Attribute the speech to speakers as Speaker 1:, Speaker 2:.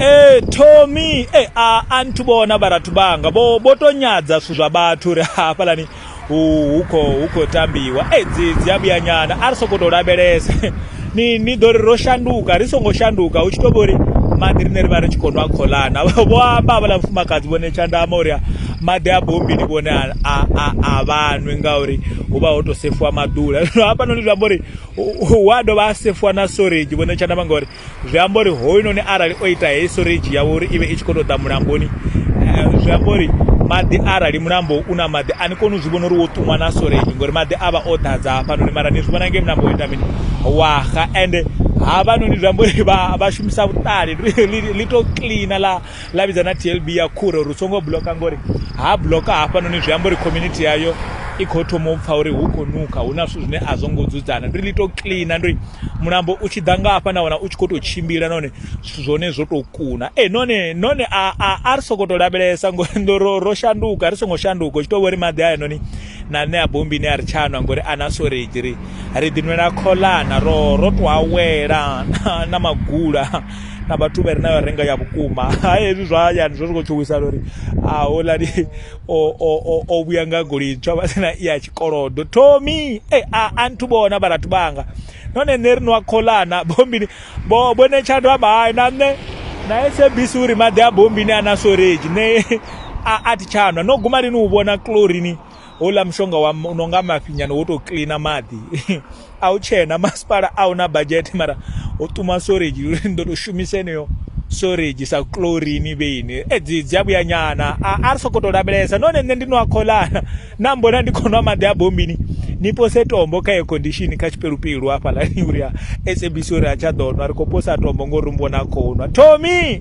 Speaker 1: ee tommy e a a nthu vhona vharathu vhanga vho vho to nyadza zwithu zwa vhathu uri hafhalani hu khou khou tambiwa e dzi dzi a vhuya nyana a ri sokou tou lavhelesa ni ni ḓo ri ro shanduka ri songo shanduka hu tshi tou vha uri maḓi rine ri vha ri tshi khou nwa kholana vho amba havhaḽa mufumakadzi vhone tshandama uri maḓi a bombini vhone a vhanwi ngauri hu vha ho to sefiwa maḓula zwino hafhanoni zwi amba uri hu a dovha a sefiwa na storage vhone tshandama ngauri zwi amba uri hoyunoni arali o ita heyi storage yawe uri i vhe i tshi khou tou ḓa mulamboni eh, zwi amba uri maḓi arali mulambo u na maḓi a ni koni u zwi vhona uri wo ṱumwa na storage ngori maḓi a vha o ḓadza hafhanoni mara ni zwi vhona ngei mulambo wo ita mini waxa ende havhanoni zwi amba uri vha shumisa vhuṱali li tou cleana ḽa ḽa vhidza na tlb ya khure uri u songo bloka ngori ha bloka hafhanoni zwi amba uri community yayo i khou thoma u pfha uri hu khou nukha hu na zwithu zwine a zwo ngo dzudzana ndi ḽi to cleana ndi mulambo u tshi ḓa nga hafha na wana u tshi khou tou tshimbila nahone zwithu zwa hone zwo tou kuna e none none a ri sokou tou lavhelesa ngori ndo ro ro shanduka ri songo shanduka u tshi tou vho ri maḓi a noni na nṋe a bombi ine a ri tshanwa ngori a na soreji ri ri ḓinwela kholana ro ro tou awela na magula na vhathu vha re nayo renga ya vhukuma ha hezwi zwa hayani zwo zwi khou tshuwisana uri houḽani o vhuya nga goloi ntswa vha sina i ya tshikolodo thomi e a a nthu vhona vharathu vhanga none nṋe ri no a kholana bombini bo bone tshando amba hai na nṋe na sabc uri maḓi a bombini a na soreji nṋe a thi tshanwa no guma lini u vhona clorini houḽa mushonga wa u no nga mafhi nyana wo tou cleaner maḓi a u tshena masipala a hu na budget mara ho ṱuma storage uri ni ḓo tou shumisa eneyo storage sa chlorine vheini edzi dzi a vhuya nyana a ri sokou tou lavhelesa nahone nṋe ndi no a kholana na mbona ndi khou nwa maḓi a bombini ni pose tombo kha air condition kha tshipelupelu hafhaḽani uri a sabc uri a tsha ḓo nwa ri khou posa tombo ngori mvona khou nwa thomi